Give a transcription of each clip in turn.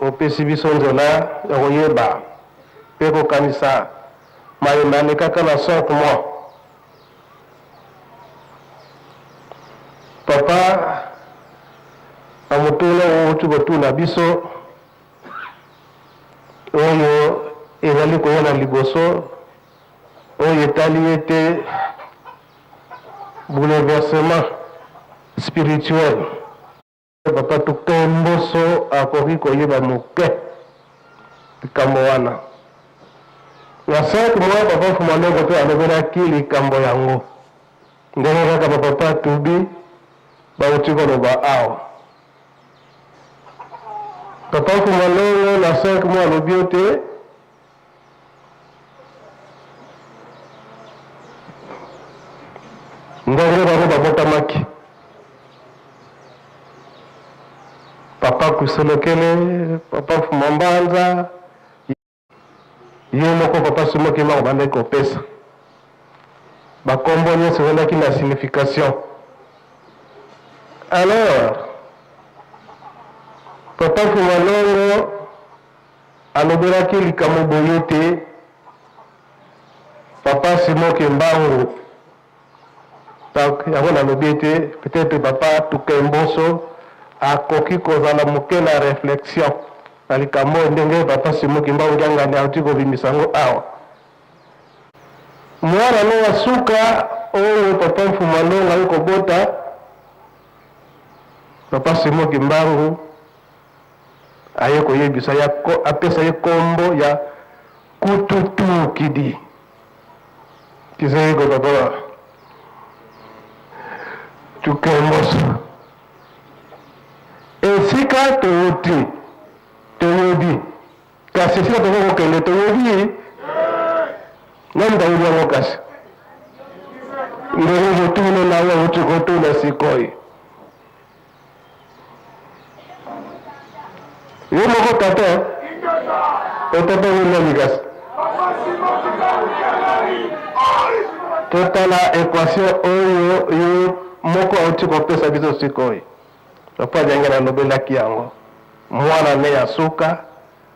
Opesi biso nzela ya koyeba mpe kokanisa maye malekaka na Sainte Moi. Papa, na motuna oyo outi kotuna biso, oyo ezali koya na liboso, oyo etali ete bouleversement spirituel Papa Docteur Mboso akoki koyeba moke likambo wana. Na Sainte Moi, Papa Mfuma Longo mpe alobelaki likambo yango, ndenge kaka ba Papa Tubi bauti koloba awa. Papa Mfuma Longo na Sainte Moi alobi ete Ngongo bango babotamaki. Papa Kuselokele, Papa Fumambanza, ye moko Papa Sumokema abandaki kopesa bakombo nyonso ezalaki na signification. Alors Papa Fumalongo Alobelaki likambo boye ete, Papa Simon Kimbangu, donc yango nalobi ete peut-etre Papa Tukemboso akoki kozala moke na reflexion na likambo oyo, ndenge Papa Simon Kimbangu Kiangani auti kobimisa yango awa. Mwana na ye ya suka oyo Papa Mfuma Longa aye kobota, Papa Simon Kimbangu aye koyebisa ye apesa ye kombo ya kututu kidi kizego baba tukemboso esika towuti toyebi kasi esika tokoki kokende toyebi nani bayebi yango kasi ndenge kotuna na yo auti kotuna sikoyo Yo moko tata otata wenda mikasi totala equation oyo yo moko auti kopesa biso sikoyo lokola jange nalobelaki yango mwana ne ya suka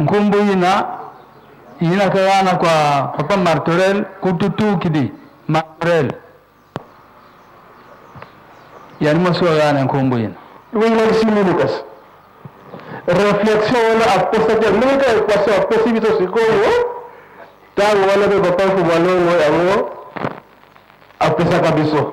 Nkombo ina inaka yana kwa Papa Martorel kututukidi Martorel yani masuwa yana nkombo ina wingaisimi Lucas reflexion wana apesaki amika equation apesi biso sikoyo ntango wana mpe Papa Kubalongo yango apesaka biso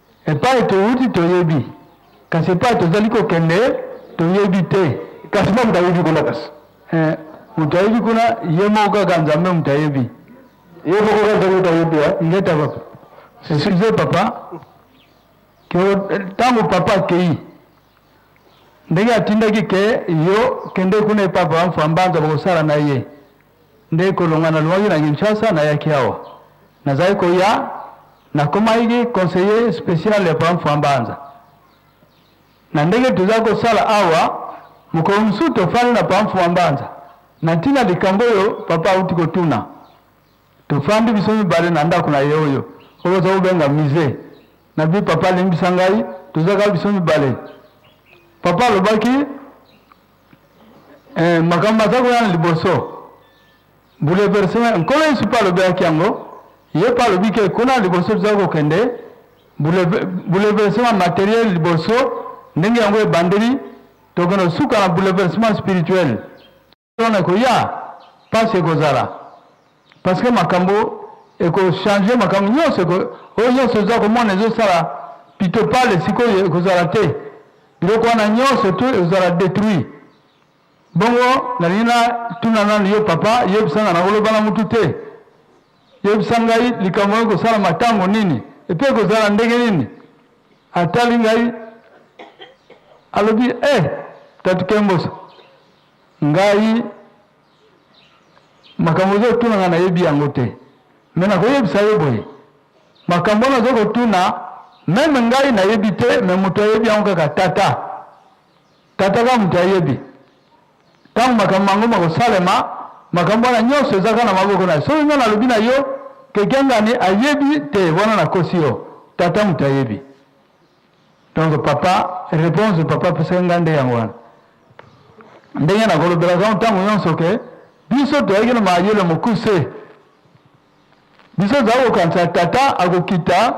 Epai touti toyebi, kasi epai tozali kokende toyebi te. Kasi nani moto ayebi kuna? Kasi eh, moto ayebi kuna ye moko kaka Nzambe moto ayebi ye moko kaka Nzambe moto ayebi. Eh. Ngeta papa, excuse papa, ntango papa akei ndenge atindaki ke yo kende kuna epai papa Mfambanza bakosala na ye Nde kolonga nalongaki na Kinshasa, nayaki awa. Nazalaki koya, nakomaki conseiller special ya Papa Mfuambanza. Na ndenge tozali kosala awa, mokolo mosusu tofandi na Papa Mfuambanza, na ntina ya likambo oyo Papa auti kotuna. Tofandi biso mibale na ndako na ye oyo, oyo bazali kobenga musee. Nalobi, Papa limbisa ngai, tozalaka biso mibale. Papa alobaki, Eh, makambo aza koya na liboso bouleverse nkolo yesu mpe alobelaki yango ye mpe alobi ke kuna liboso toza kokende bouleversement materiel liboso ndenge yango ebandeli tokende kosuka na bouleversement spirituel wana ekoya mpasi ekozala Parce que makambo eko changer makambo nionso eko oyo nionso oza komona ezo sala pitopale sikoyo ekozala te biloko wana nionso tout ekozala detruit bongo nalingi na tuna nanu yo papa yebisa nga nako loba na mutu te yebisa ngai likambo yango ekosalama tango nini epe ekozala ndenge nini atali ngai alobi eh tatu kemboso ngai Makambo ozo tuna nga nayebi yango te mais nako yebisa yo boye makambo wana ozo kotuna meme ngai nayebi te mais moto ayebi yango kaka tata tata kaka moto ayebi ntango makambo mango makosalema makambo wana nyonso eza kaka na maboko na soki ngai nalobi na yo kekiangani ayebi te wana nakosi yo tata moto ayebi Donc papa reponse papa apesaki ngai nde yango wana ndenge nakolobelaka yango ntango nyonso ke biso toyaki na mayele mokuse biso tozali kokanisa tata akokita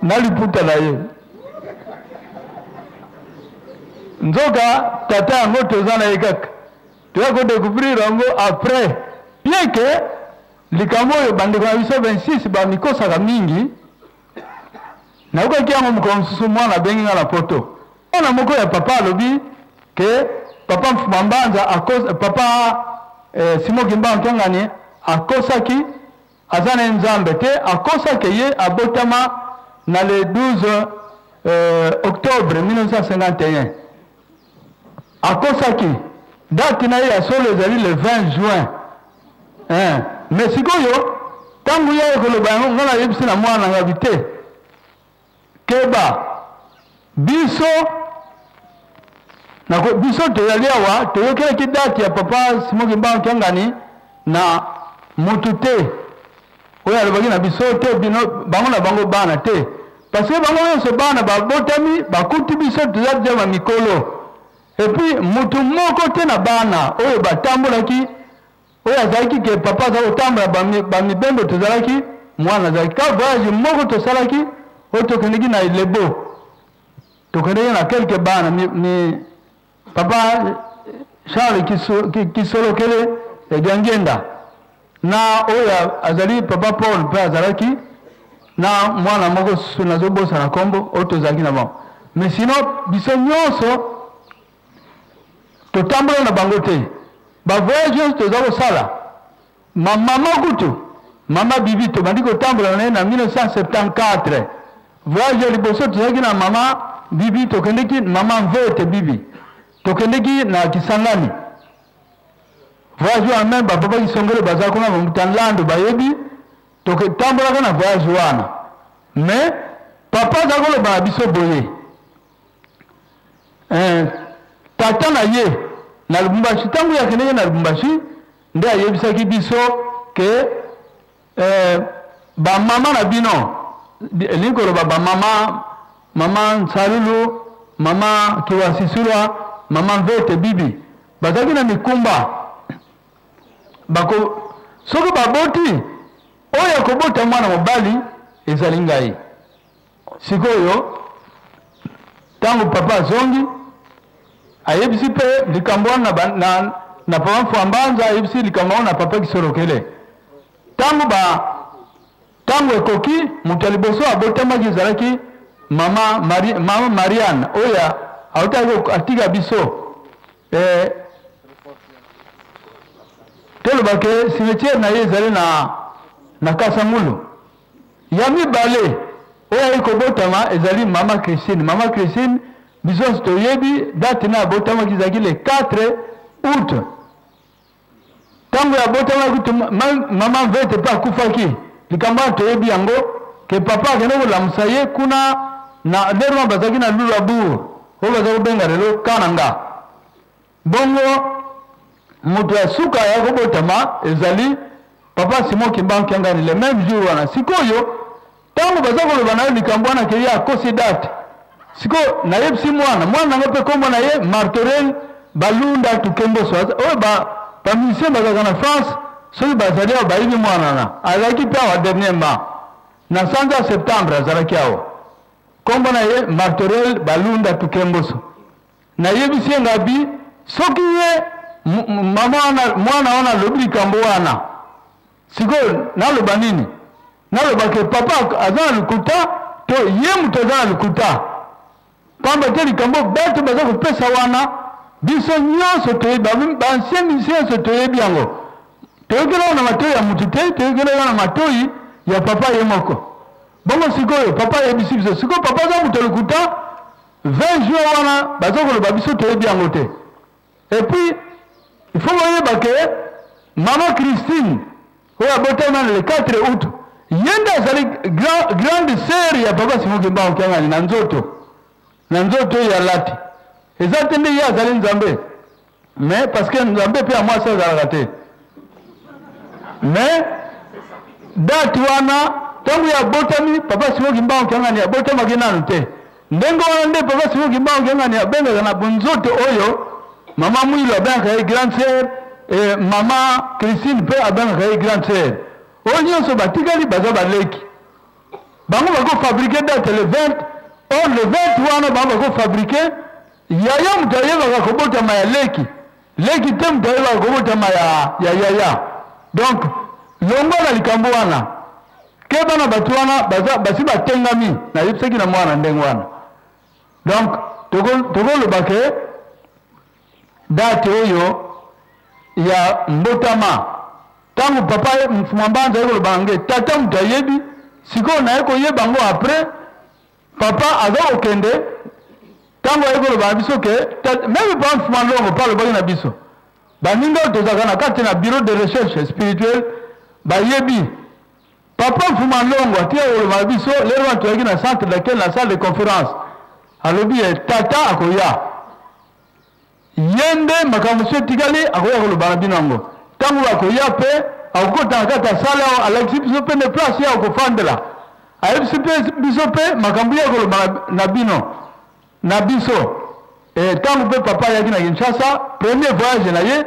na liputa na ye nzoka tata yango toza na ye kaka toya kodecouvrir yango après bien ke Likambo oyo bandeko na biso 26 bamikosaka mingi, nayokaki yango mokolo mosusu mwana abengi ngai na poto. Mwana moko ya papa alobi ke papa Mfuma Mbanza, papa eh, Simo Kimbangu Kiangani akosaki aza na nzambe te, akosaki ye abotama na le 12 eh, octobre 1951 Akosaki. Date na ye ya solo ezali le 20 juin. Eh, mais sikoyo tangu ya ekoloba yango nga nayebisi na mwana nga bite. Keba. Biso na biso toyali awa toyokelaki date ya papa Simon Kimbangu Kiangani na mutu te. Oyo alobaki na biso te bino bango na bango bana te parce que bango nyonso bana babotami bakuti biso toza deja ba mikolo epuis motu moko te na bana oyo batambolaki oyo azalaki ke papa aza kotambola bamibembo tozalaki mwana azalaki ka voyage moko tosalaki oyo tokendeki na elebo tokendeki na kelke bana mi, mi, Papa Charles Kisolokele ya Diangienda na oyo azali Papa Paul mpe azalaki na mwana moko nazobosana nkombo oyo tozalaki na bango mais sinon biso nyonso totambola na bango te bavoyage nyonso toza kosala Ma maman kutu, maman Bibi tobandi kotambola na ye na 1974. Voyage ya liboso tozalaki na maman Bibi tokendeki, maman Mvete Bibi, tokendeki na Kisangani. Voyage wana meme ba papa Kisongolo baza kuna, ba Mutanlando bayebi, toketambolaka na voyage wana. Mais papa aza koloba na biso boye, eh, tata na ye na Lubumbashi, tango ye akendeki na Lubumbashi, nde ayebisaki biso ke eh, bamama na bino elingi koloba bamama mama nsalulu mama kiwasisulwa mama mvete bibi bazalaki na mikumba bako soki baboti oyo akobota mwana mobali ezali ngai Sikoyo ntango papa azongi, ayebisi mpe likambo wana na, na, na papa Mfwambanza, ayebisi likambo yango na papa Kisolokele. Ntango ba ntango ekoki, moto ya liboso abotamaki ezalaki mama, Mari, mama Marianne oyo autaki atika biso eh, tolobake cimetière na ye ezali na, na Kasangulu. Ya mibale oyo ayaki kobotama ezali mama Christine. Mama Christine, biso nyonso toyebi date na abotamaki ezalaki le 4 août. Ntango ya abotamaki kutu mama Mvete mpe akufaki. Likambo wana toyebi yango ke papa akende kolamusa ye kuna na lero wana bazalaki na Lulabourg oyo baza kobenga lelo Kananga. Bongo moto ya suka ya kobotama ezali Papa Simon Kimbangu Kiangani, le meme jour wana. Sikoyo tango baza koloba na yo likambo wana ke ye akosi date, sikoyo nayebisi mwana mwana na nga mpe kombo na ye Martorel Balunda Tukemboso, oyo ba ba musiciens bazalaka na France, soki bazali awa bayebi mwana wana, azalaki mpe awa dernièrement na sanza septembre, azalaki awa, kombo na ye Martorel Balunda Tukemboso. Na yebisi ye ngabi soki ye maman wana mwana wana alobi likambo wana sikoyo naloba nini? Naloba ke papa aza na lokuta to ye moto aza na lokuta? Pamba te likambo batu baza kopesa wana biso nyonso toyebi, ba ancien musicien nyonso toyebi yango. Toyokeli yango na matoyi ya motu te, toyokeli yango na matoyi ya papa ye moko. Bongo sikoyo papa ayebisi biso sikoyo papa aza moto lokuta 20 juin wana baza koloba biso toyebi yango te et puis il faut boyeba ke mama christine oyo abotami nano le 4 août ye nde azali grande sœur ya papa simo kimbangu kiangani na nzoto na nzoto oyo alati eza te nde ye azali nzambe mais parce que nzambe mpe ya mwasi azalaka te mais date wana ntango ya abotami papa simo kimbangu kiangani abotamaki nanu te ndenge wana nde papa simo kimbangu kiangani abengaka na bonzoto oyo mama mwilo abengaka ye grande sœur e mama christine mpe abengaka ye grande sœur oyo nyonso batikali baza baleki bango bakofabrike date le 20 or le 20 wana bango bakofabrike Yaya moto ayebaka kobotama ya leki, leki te moto ayebaka kobotama ya, ya yaya. Donc longwa na likambo wana, keba na bato wana baza basi batengami. Nayebisaki na mwana ndenge wana, donc tokoloba toko ke date oyo ya mbotama ntango papa mfumambanza ayekoloba nge tata moto ayebi sikoyo naye koyeba ngo après Papa aza kokende tango aye koloba na biso ke meme pa Mfuma Longo pa alobaki na biso baninga oyo tozalaka na kati na bureau de recherche spirituelle bayebi Papa Mfuma Longo atika koloba na biso lelo wana toyaki na centre d'accueil na salle de conference alobi ye tata akoya Ye nde makambo mosusu etikali akoya koloba na bino yango tango oyo akoya, mpe akokota na kati ya salle awa, alakisi biso mpe nde place ye akofandela, ayebisi mpe biso mpe makambo ye akoloba na, na bino, na biso. Ee, tango mpe papa ayaki na Kinshasa, premier voyage na ye,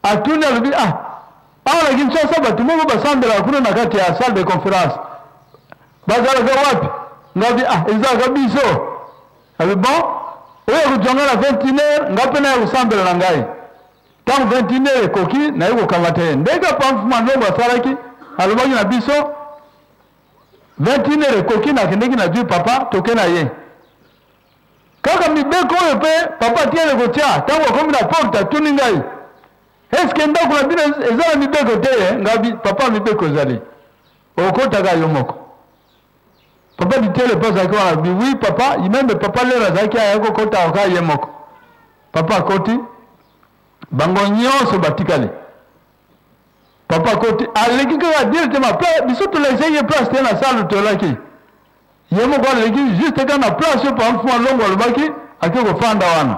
atuni, alobi, ah, awa na Kinshasa bato moko basambelaka kuna na kati ya salle de conference, bazalaka wapi? Ngai alobi, ah, ezalaka biso. Alobi, Bon, oyo ya kojuanga na 21 heure, nga pe naya kosambela na ngai. Tango 21 heure ekoki, naye kokamata ye. Ndenge Papa Mfuma Ndombo asalaki, alobaki na biso, 21 heure ekoki, nakendeki nazui Papa, toke na ye. Kaka mibeko oyo pe Papa atiyele kotia, tango akomi na porte, atuni ngai, Eske ndako na bino eza na mibeko te? Nga, Papa, mibeko ezali. Okotaka yo moko. Papa Bitele mpe azalaki wana, alobi oui papa, ye meme papa Lera azalaki aya kokota kaka ye moko. Papa akoti, bango nyonso batikali. Papa akoti, aleki kaka directement, mpe biso tolakisaki ye place te na salle tolaki. Ye moko aleki juste kaka na place oyo papa Mfumu Alongo alobaki ake kofanda wana.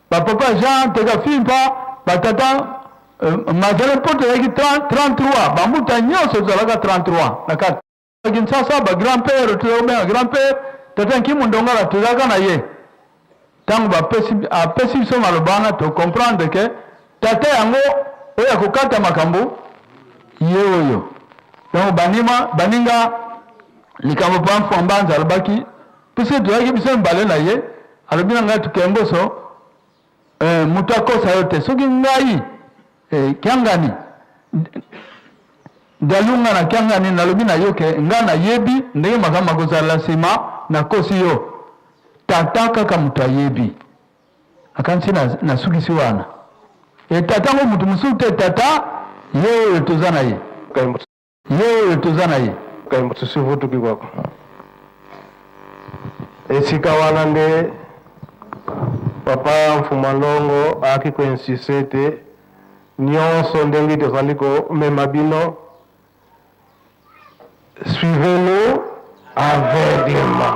Ba papa Jean Tekafimpa, ba tata Mazala mpoto ezalaki 33, ba mbuta nyonso tozalaka 33 na kati. Na Kinshasa ba grand père tozalaki kobenga grand père tata Nkimu Ndongala tozalaka na ye. Tango bapesi apesi biso maloba wana to comprendre que tata yango oyo akokata makambo ye oyo. Donc banima baninga likambo Mpanfu Ambanza alobaki Biso tozalaki biso mibale na ye, alobi na ngai tuke mboso eh, moto akosa yo te soki ngai eh, kiangani ngalunga na kiangani nalobi na yo ke ngai nayebi ndenge makambo makozala nsima nakosi yo tata kaka moto ayebi akanisi nasukisi na wana e tata ngo moto mosusu te tata ye oyo toza na ye Ye oyo toza na ye. Tusivutuki kwako. Esika wana nde Papa Mfuma Longo ayaki ko insiste ete nionso ndenge tozali komema bino suivez-nous aveuglement.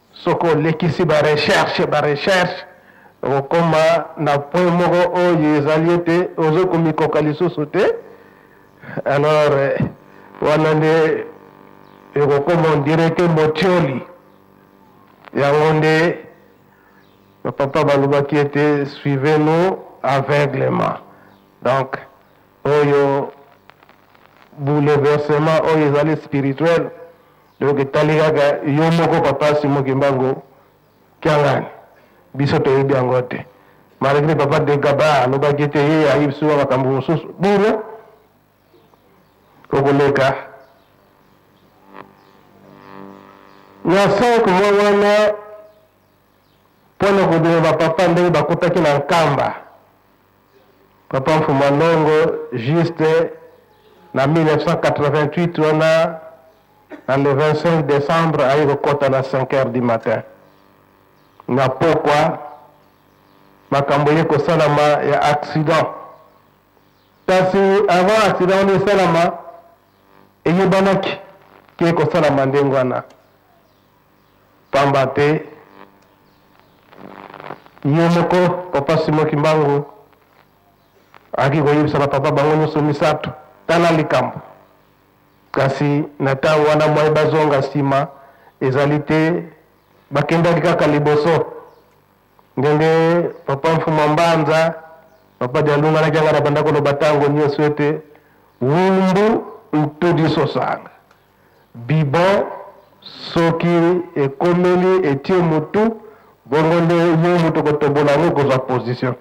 Soki olekisi ba recherches, ba recherches, okokoma na point moko oyo ezali ete ozo komikoka lisusu te, alors wana nde ekokoma on dirait que motioli. Yango nde ba papa balobaki ete suivez nous aveuglement. Donc oyo bouleversement oyo ezali spirituel Donc etali kaka yo moko papa Simon Kimbangu Kiangani. Biso toyebi yango te. Malgre papa de Gaba alobaki ete ye ayebi sua makambo mosusu. Bino okoleka na 5 mois wana mpo na kobima bapapa ndenge bakutaki na Nkamba. Papa Mfuma Ndongo juste na 1988 wana na le 25 decembre aye kokota na 5 heures du matin na pokwa makambo ye kosalama ya accident kasi avant accident wana esalama eyebanaki ke kosalama ndenge wana Pamba te, ye moko Papa Simon Kimbangu ayaki koyebisa ba papa bango nyonso misato, tala likambo. Kasi na tango wana mwaye bazonga nsima ezali te, bakendaki kaka liboso. Ndenge Papa Mfuma Mbanza, Papa Dialunga na Kiangani abanda koloba tango nyonso ete Wumbu ntudi sosanga. Bibon soki ekomeli etie mutu bongo nde yo mutu okotobola yango okozwa position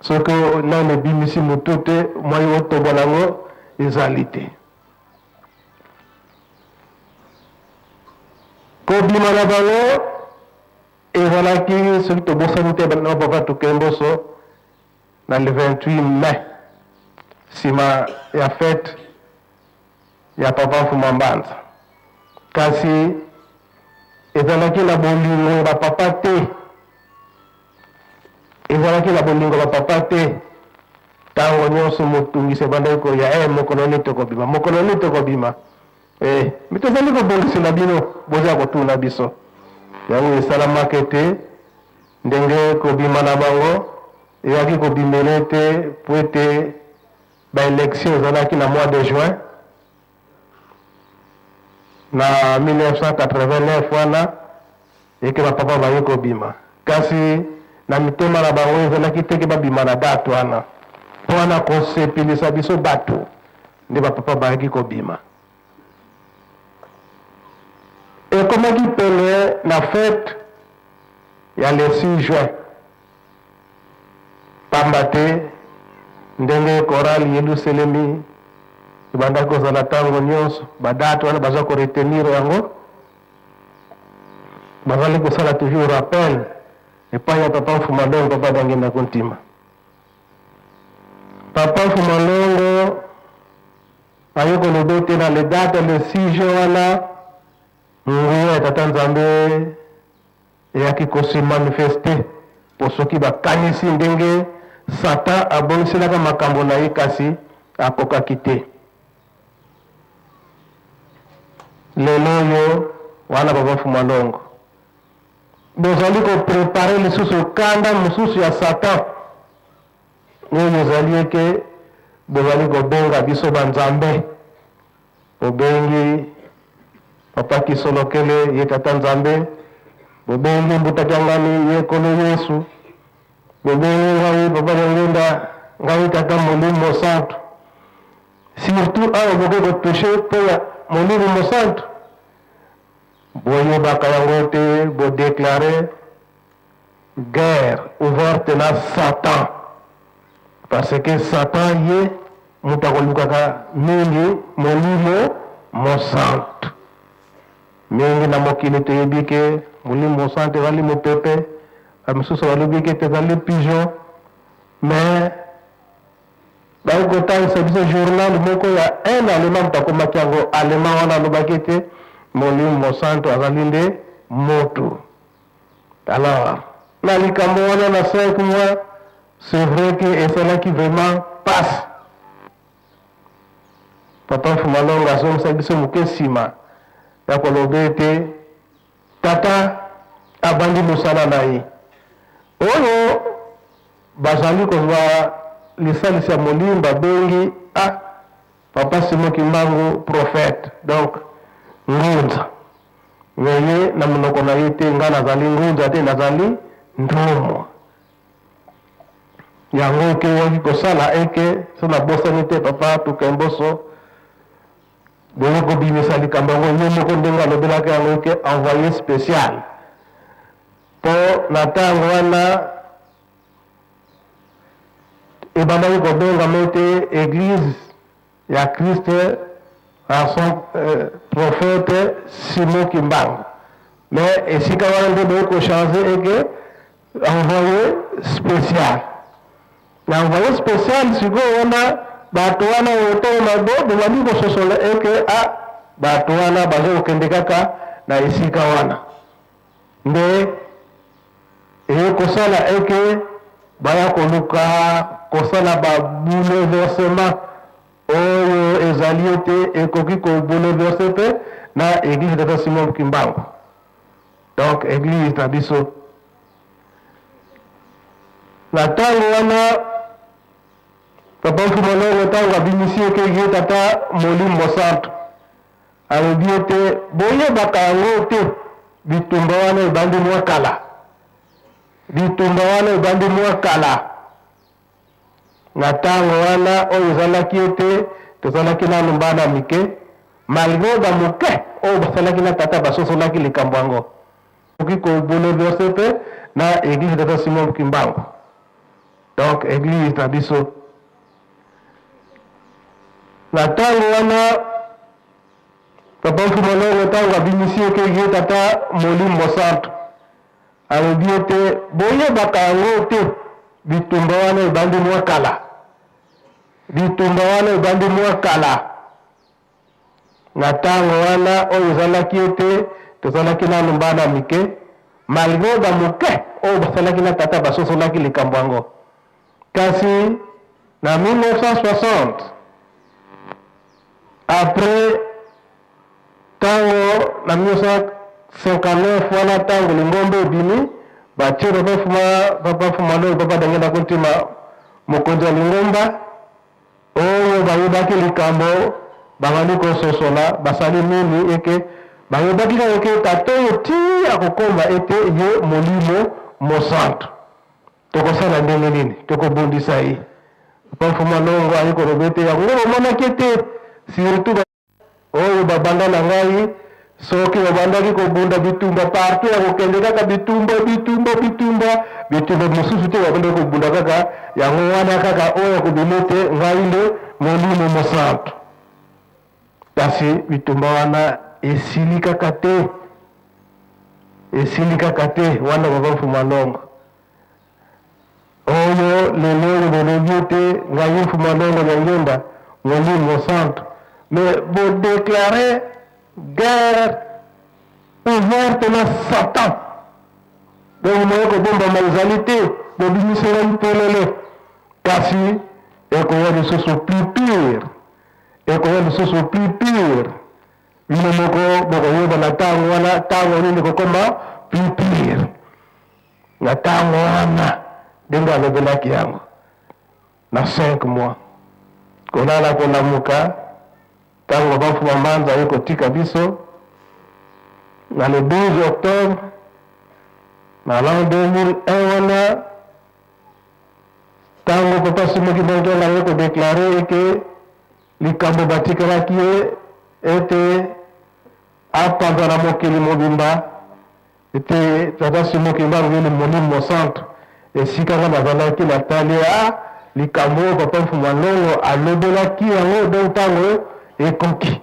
soki nanu ebimisi mutu te moyen otobola yango ezali te kobima na bango ezalaki soki tobosani te na papa tukemboso Na le 28 mai, sima ya fete ya Papa Mfuma Mbanza. Kasi ezalaki na bolingo ya ba papa te, ezalaki na bolingo ba papa te. Tango nionso motungisi ebandaki koya, eh mokolo nini tokobima, mokolo nini tokobima? Eh, mais tozali kobongisela bino, boza kotuna biso yango esalamaka ete ndenge kobima na bango eyaki kobimela ete po ete baelektio ezalaki na mois de juin na 1989 wana eke bapapa baye kobima kasi na mitema na bango ezalaki teke babima na date wana mpo wana kosepelisa biso bato nde bapapa bayaki kobima. Ekomaki pene na fete ya le 6 juin, pamba te ndenge korali Yeluselemi ebandaki kozala ntango nyonso, badate wana baza koretenir yango, bazali kosala toujours rappel epai ya papa Mfumalongo, papa Dangenda Kuntima. Papa Fuma Longo aye koloba ete na le date le 6 juin wana nguya ya Tata Nzambe eyaki kose manifeste mpo soki bakanisi ndenge Satan abongiselaka makambo na ye kasi akokaki te. Lelo oyo wana Papa Fuma Longo Bozali ko preparer lisusu kanda mosusu ya Satan oyo ezali ete bozali kobenga biso ba nzambe. Bobengi Papa Kisolokele ye Tata Nzambe, bobengi Mbuta Kiangani ye Nkolo Yesu, bobengi ngai Papa Diangienda ngai Tata Molimo Mosantu. Surtout awa boke ko toucher mpo ya Molimo Mosantu Boyebaka yango te bo declare guerre ouverte na satan parce que satan ye mutu akolukaka mingi molimo mosantu mingi na mokili toyebi ke molimo mosantu ezali mopepe ba misusu balobi ke ezali pigeon mais Baye kotangisa biso journal moko ya un allemand moto akomaki yango allemand wana alobaki ete molimo mosantu azali nde mutu alors na likambo wana na 5 mois c'est vrai que esalaki vraiment pasi papa fumalonga azongisa biso moke nsima ya koloba ete Tata abandi mosala na ye. Oyo bazali kozwa lisalisi ya molimo babengi a Papa Simon Kimbangu prophète, donc ngunza. Mais ye na monoko na ye te, ngai nazali ngunza te, nazali ntumwa. Yango ekeyaki kosala eke, soki nabosani te, Papa Tukemboso, Boye kobimisa likambo yango ye moko ndenge alobelaki yango ke envoye special mpo na ntango wana ebandaki kobengama ete eglise ya Christ en son euh, prophète Simon Kimbangu mais esika wana nde boye kochange eke Envoye special na envoye special sikoyo wana bato wana motema mabe bobandi kososola eke a ah, bato wana baza kokende kaka na esika wana nde eye kosala eke baya koluka kosala ba bouleversement oyo ezali ete ekoki kobouleverse mpe na eglise de Simon Kimbangu. Donc eglise na biso na tango wana Papa Filolongo tango abimisi ye ke ye tata Molimbo Santu alobi ete boyebaka yango te bitumba wana ebandi mwa kala bitumba wana ebandi mwa kala Na tango wana oyo ezalaki ete tozalaki nanu bana mike, malgre ba moke oyo basalaki na tata basosolaki likambo yango, ekoki ko bouleverser pe na eglise ya tata Simon Kimbangu, donc eglise na biso. Na tango wana Papa Mfumu Longo tango abimisi ekeke tata Molimo Santu, Alobi ete, Boyebaka yango te? Bitumba wana ebandi mwa kala. Bitumba wana ebandi mwa kala. Na ntango wana oyo ezalaki ete tozalaki nanu bana mike, malgre ba moke oyo basalaki na tata basosolaki likambo yango, Kasi na 1960, après tango na 1959 wana tango lingomba ebimi, batie Papa Fuma, Papa Fumaloi, Papa Dangenda Kuntima mokonzi ya lingomba, oyo bayebaki likambo babandi kososola basali nini eke bayebaki kaka ke tata oyo ti akokoma ete ye Molimo Mosantu. Tokosala ndenge nini? Tokobundisa ye? Papa Mfuma Longo aye koloba ete yango bamonaki ete surtout oyo babanda na ngai soki babandaki kobunda bitumba partout ya kokende kaka bitumba bitumba bitumba bitumba mosusu te babandaki kobunda kaka yango wana kaka oyo akobima ete ngai nde molimo mosantu Kasi bitumba wana esili kaka te, esili kaka te wana Papa Mfuma Longo oyo lelo oyo bolobi ete ngai Mfuma Longo Nyangenda Molimo Santu, me bodeklare guerre ouverte na Satan, donc moye kobombama ezali te, bobimisela mpolele, kasi ekoya lisusu plus pire Ekoya lisusu plus pire, bino moko bokoyeba na tango wana tango nini ekokoma plus pire. Na tango wana, ndenge alobelaki yango, na cinq mois, kolala kolamuka, tango Banfu Mamanza aye kotika biso na le 12 octobre na l'an 2001 wana, Tango Papa Simon Kimbanguela aye ko declarer que likambo batikelaki ye ete apanza na mokili mobimba ete Tata Simon Kimbangu ye Molimo Mosantu, esika nga nazalaki natali a likambo oyo Papa Mfuma Lolo alobelaki yango donc tango ekoki.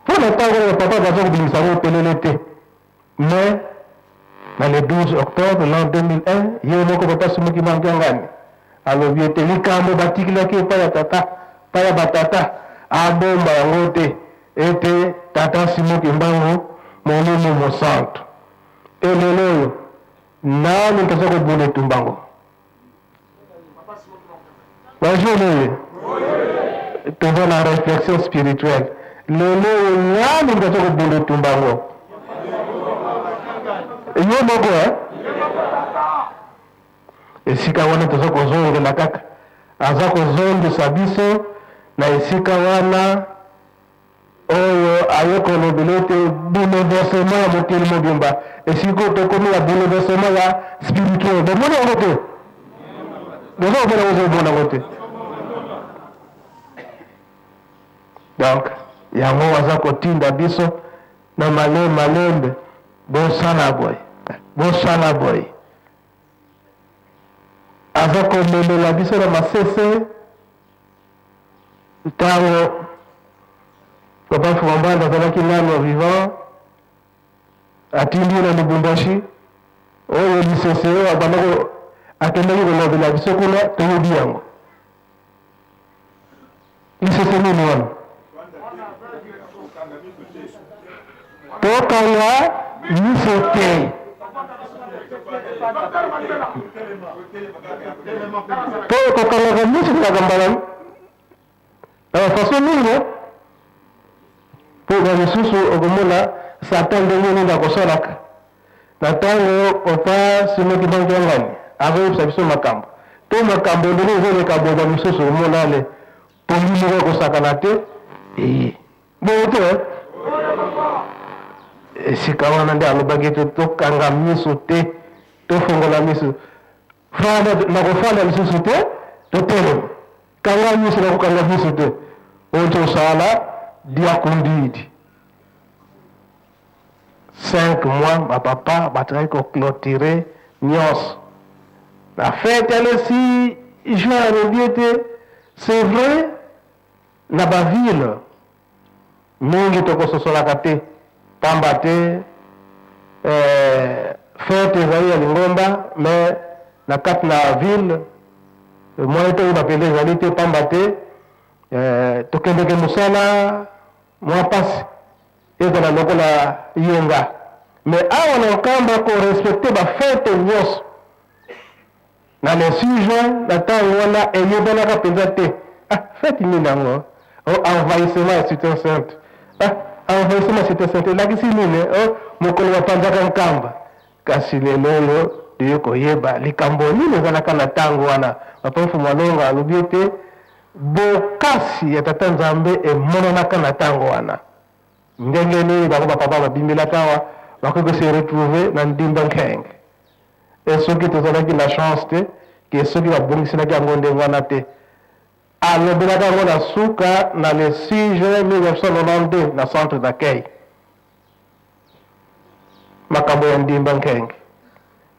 Mpo na tango oyo Papa baza kobimisa yango polele te. Mais na le 12 octobre l'an 2001, ye moko Papa Sumuki Mankiangani alobi ete likambo batikilaki epai ya tata, epai ya ba tata, abomba yango te, ete Tata Simon Kimbangu, Molimo Mosantu. Mpe lelo oyo, nani mpenza akobunda etumba yango? Bonjour, oui. Toujours la réflexion spirituelle. lelo oyo nani moto aza kobunda etumba yango yo moko eh? esika wana toza kozongela kaka aza kozongisa biso na esika wana oyo aye kolobela ete bouleversement ya mokili mobimba esili ko tokomi ya bouleversement ya spirituel bomoni yango te boza komona yango ozomona yango te donc yango aza kotinda biso na male malembe bosala boye bosala boye aza komemela biso na masese Ntango Papa Nfuambanda azalaki nano vivant, atindi ye na Lubumbashi, oyo lisese oyo abandaki akendaki kolobela biso kuna, toyebi yango lisese nini wana Tokanga miso te. To kokangaka miso kaka mbala na bafaso mingi mpo ba mosusu okomona satan ndenge nini akosalaka na ntango opa simoki bangiangani akoyebisa biso makambo to makambo ndenge ezoleka boba mosusu omonane Pongi moko ya kosakana te eye boye te eh? esika wana nde alobaki ete tokanga miso te tofongola miso fanda nakofanda lisusu te totelema kanga miso nakokanga miso te oyo tosala diakondidi Cinq mois ba papa batikaki ko cloturer nionso na fete alesi juin alobi ete c'est vrai na ba ville mingi tokososolaka te pamba te fete ezali ya lingomba mais na kati na ville moyen toyeba penza ezali te pamba te tokendeke mosala mua pasi. Ezala lokola yo nga. Mais awa na Nkamba ko respecter ba fete nionso na le 6 juin na tango wana eyebanaka mpenza te. Ah, fete nini yango? Oh, envahissement ya Cite Sainte. Ah, envahissement ya Cite Sainte elakisi nini? Oh, mokolo bapanzaka Nkamba. Kasi lelo oyo toye koyeba likambo nini ezalaka na tango wana. Papa Mfumu Alonga alobi ete Bokasi ya Tata Nzambe emonanaka na tango wana. Ndenge nini bango ba papa babimelaka awa bakoki ko se retrouver na Ndimbo Nkeng? Et soki tozalaki na chance te que soki babongiselaki yango ndenge wana te? Alobelaka yango na suka na le 6 juin 1992 na centre d'accueil. Makambo ya Ndimbo Nkeng.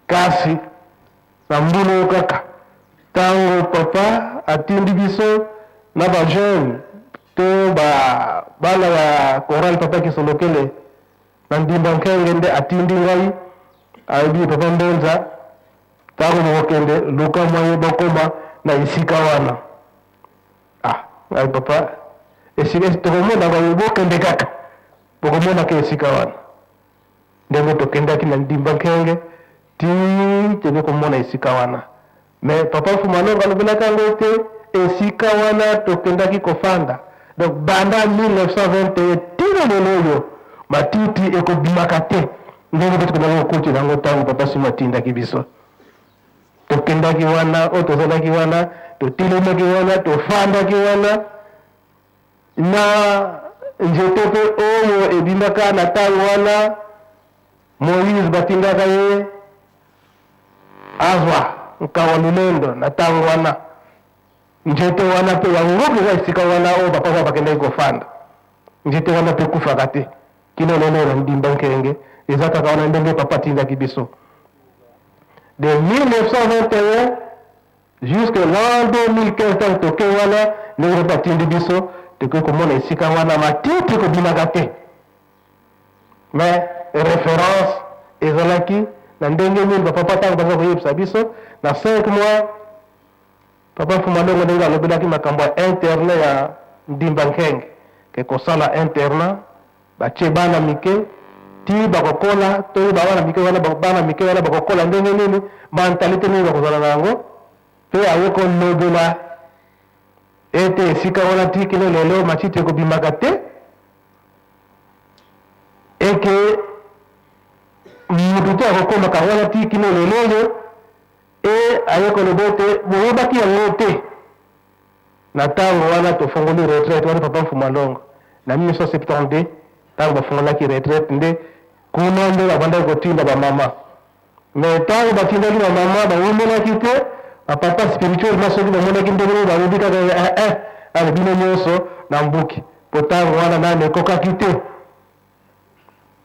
Kasi. Na mbula oyo kaka, tango Papa atindi biso na ba jeunes to ba bana ya chorale Papa Kisolokele na Ndimba Nkenge nde atindi ngai, alobi, Papa Mbonza, tango bokokende, luka moyen bokoma na esika wana. Ah! Ngai, Papa, esika tokomona, bokende kaka, bokomonaka esika wana. Ndenge tokendaki na ndimba nkenge ti tebe komona esika wana. Mais papa Mfuma Longa alobelaka yango te, esika wana tokendaki kofanda. Donc banda 1921 ti na lelo oyo matiti ekobimaka te ndenge pe tokendaki kokotela yango tango papa Simo atindaki biso. Tokendaki wana oyo tozalaki wana, totelemaki wana, tofandaki wana. Na nzete pe oyo ebimaka na tango wana Moïse batindaka ye azwa nkawa lolendo na tango wana nzete wana pe yango mpenza esika wana oyo ba papa bakendaki kofanda nzete wana pe ekufaka te kino lelo oyo na ndimba nkenge eza kaka wana ndenge papa atindaki biso de 1921 Jusque l'an 2015 tango tokei wana, ndenge nde batindi biso, tokoki komona esika wana matiti ekobimaka te. Mais reference ezalaki na ndenge nini ba papa tango baza koyebisa biso na 5 mois papa Mfuma Longo ndenge alobelaki makambo ya internet ya Ndimba Nkenge ke kosala internet Batie bana mike ti bakokola, toyeba bana mike wana, bana mike wana bakokola ndenge nini, mentalite nini bakozala na yango, pe aye kolobela ete esika wana ti kino lelo matiti ekobimaka te, eke moto te akokomaka wana ti kino lelo oyo, e aye koloba ete boyebaki yango te. Na tango wana tofongoli retraite wana papa Mfuma Longo na 1972 tango bafongolaki retraite nde kuna nde babandaki kotinda ba mama mais tango batindaki ba mama bawumelaki te ba papa spirituel na soki bamonaki ndenge nini balobi kaka eh eh ale bino nyonso na mbuki po tango wana nanu ekokaki te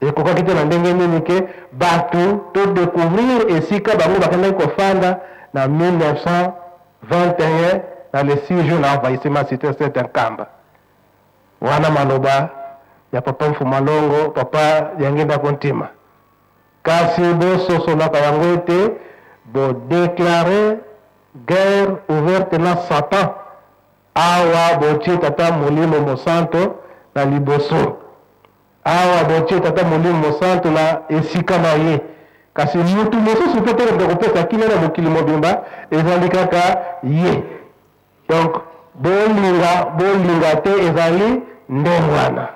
Ekokaki te na ndenge nini ke batu to decouvrir esika bango bakendaki kofanda na 1921 na le six juin na envahissement ya cite sainte ya Nkamba. Wana maloba ya papa Mfuma Longo, papa Diangienda Kontima. Kasi bososolaka yango ete bo declarer guerre ouverte na Satan. Awa botie Tata Molimo Mosanto na liboso, awa botie Tata Molimo Mosanto na esika na ye, kasi mutu mosusu pe te moto akopesa kimia na mokili mobimba, ezali kaka ye. Donc, bolinga, bolinga te, ezali nde wana.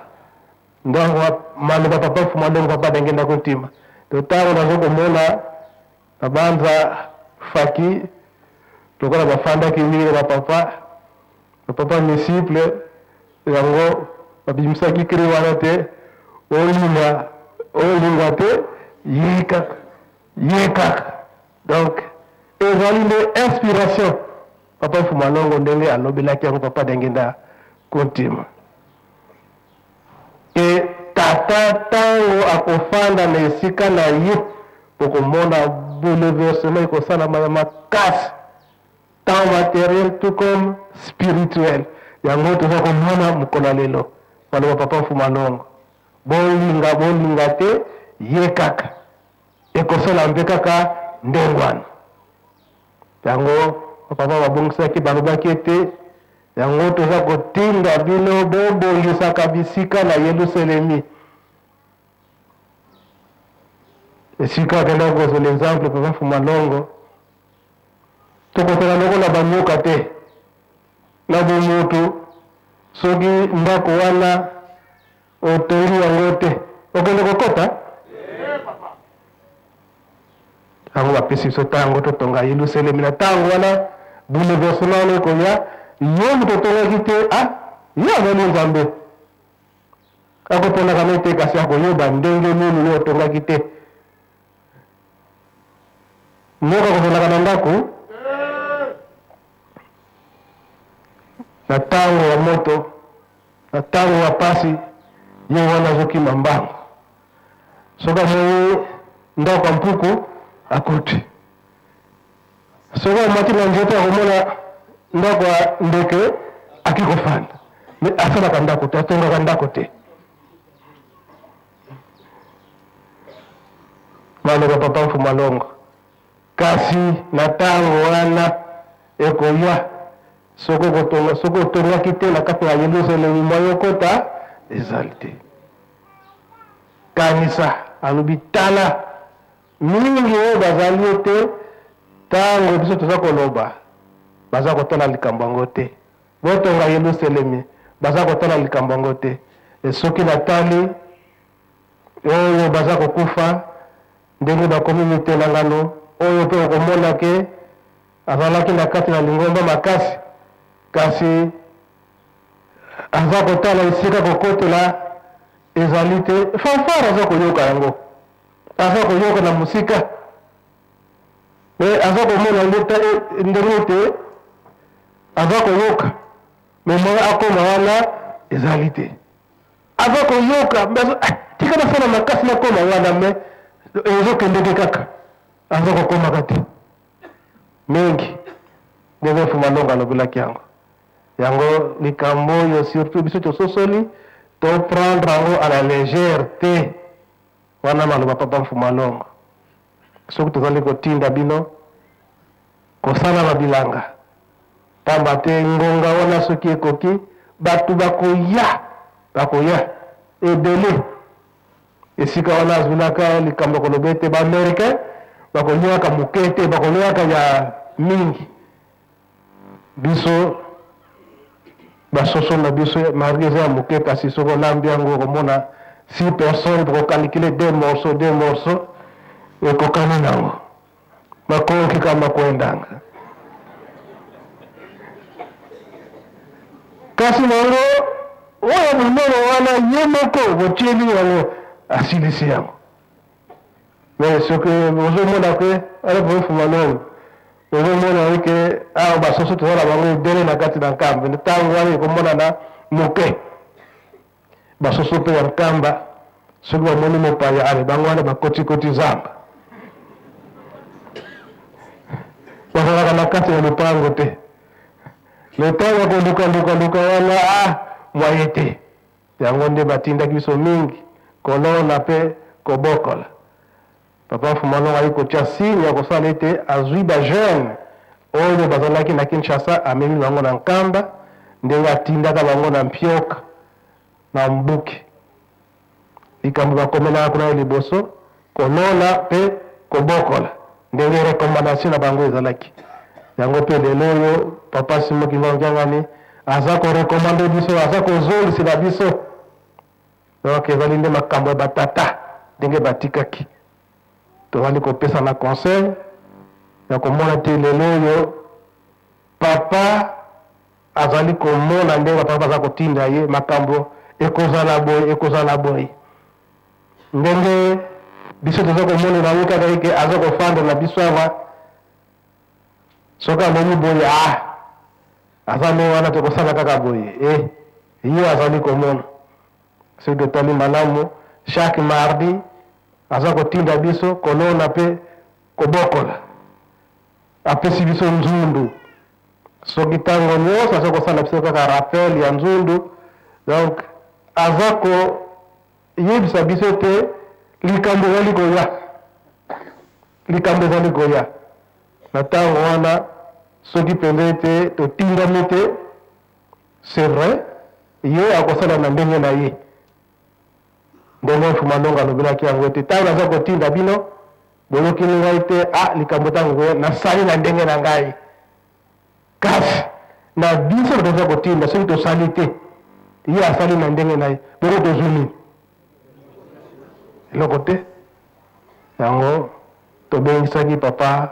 Donc, maloba Papa Mfumu Alongo, Papa Dengenda Kotima, to tango nazokomona Nabanza Fathy lokola bafandaki mingi na ba papa na papa Misiple yango babimisaki cri wana te olinga olinga te yika yika donc ezali nde inspiration papa Fumalongo ndenge alobelaki yango papa Dengenda Kuntima. Mpe Tata, ntango Akofanda na esika na Ye, bokomona bouleversement ekosalama ya makasi, tant materiel tout comme spirituel. Yango oyo toza komona mokolo ya lelo. Maloba Papa Mfuma Longo, bolinga, bolinga te, Ye kaka. Ekosala mpe kaka ndenge wana. Yango Papa babongisaki, balobaki ete Yango toza kotinda bino bobongisaka bisika na Yeluselemi. Esika akenda kozwa l'exemple Papa Fumalongo, tokosala lokola banyoka te na bomoto. Soki ndako wana Otongi yango te. Okende kokota? Yango bapesi biso ntango totonga Yelusalemi. Na ntango wana bouleversement wana ekoya, ye moto otongaki te, ah, ye azali Nzambe. Akoponaka na te, kasi akoyeba ndenge nini yo otongaki te. Nyoka kozalaka na ndako na ntango ya moto, na ntango ya pasi, ye wana azokima mbangu. Soki amoni ndako ya mpuku akuti, soki amati na nzete akomona ndako ya ndeke akikofanda, me asalaka ndako te, atongaka ndako te. maloba papa mfuma longo kasi na ntango wana ekoya soki okotonga soki otongaki te na kati ya yelusalemi mwa yokota ezali te kanisa alobi tala mingi oyo bazali ete ntango biso toza koloba baza kotala likambo yango te Botonga Yeluselemi. Baza kotala likambo yango te. E, soki natali oyo baza kokufa, ndenge bakomi mitelangano oyo, pe okomona ke azalaki na kati na lingomba makasi, kasi aza kotala esika kokotela ezali te. Fanfare aza koyoka yango, aza koyoka na mosika. me aza komona yango te ndenge te aza koyoka me moye akoma wana ezali te aza koyoka ah, tika nasala makasi nakoma wana me ezokendeke kaka aza kokomaka te mingi ndenge mfuma longa alobelaki yango yango likambo oyo surtout biso tososoli to prendre yango à la légère te wana maloba papa mfuma longa soki tozali kotinda bino kosala ba bilanga, pamba te ngonga wana soki ekoki, bato bakoya, bakoya ebele. Esika wana azulaka likambo ya koloba ete ba Americains bakolyaka moke te, bakolyaka ya mingi. Biso ba soso na biso marge eza ya muke kasi soki olambi yango okomona six personnes boko calculer deux morceaux deux morceaux ekokani nango makoki ka makuendanga kasi nango oyo monene wana ye moko botieli yango asilisi yango Mais ce que bozomona que RPF Malone ozomona ye ke awa ah, basusu toza na bango ebele na kati na nkamba ntango wana ekomonana moke basusu mpe ya nkamba soki bamoni mopaya ale bango wana bakotikoti zamba bazalaka na kati ya lopango te letango ya kolukalukaluka wana a ah, mwaye te Yango nde batindaki biso mingi kolona pe kobokola. Papa Nfuma Longo aye kotia signe ya kosala ete azui ba jeunes oyo bazalaki na Kinshasa amemi bango na Nkamba ndenge atindaka bango na Mpioka na Mbuki. Likambo bakomelaka kuna ya liboso Kolona pe kobokola ndenge recommandation na bango ezalaki. Yango pe lelo oyo Papa Simon Kimbangu Kiangani aza ko recommande biso, aza kozongisela biso. Donc ezali nde makambo ya ba tata ndenge batikaki. Tozali kopesana conseil ya komona te lelo oyo Papa azali komona ndenge ba Papa baza kotinda ye makambo ekozala boye, ekozala boye. Ndenge biso toza komonela ye kaka eke aza kofanda na biso awa, soki amoni boye ah, aza nde wana tokosala kaka boye e eh, ye azali komona. Soki totali malamu, chaque mardi aza kotinda biso kolona mpe kobokola, apesi biso nzundu soki ntango nyonso aza kosala biso kaka rappel ya nzundu donc aza ko Yebisa biso te likambo ezali koya, likambo ezali koya. Na ntango wana, soki mpenza ete totindami te, c'est vrai, ye akosala na ndenge na ye. Ndenge Mfuma Longa alobelaki yango ete ntango naza kotinda bino, boyokeli ngai te, ah, likambo ntango koya, nasali na ndenge na ngai. Kasi, na biso bato aza kotinda, soki tosali te, ye asali na ndenge na ye, bongo tozwi nini? Eloko te. Yango tobengisaki papa.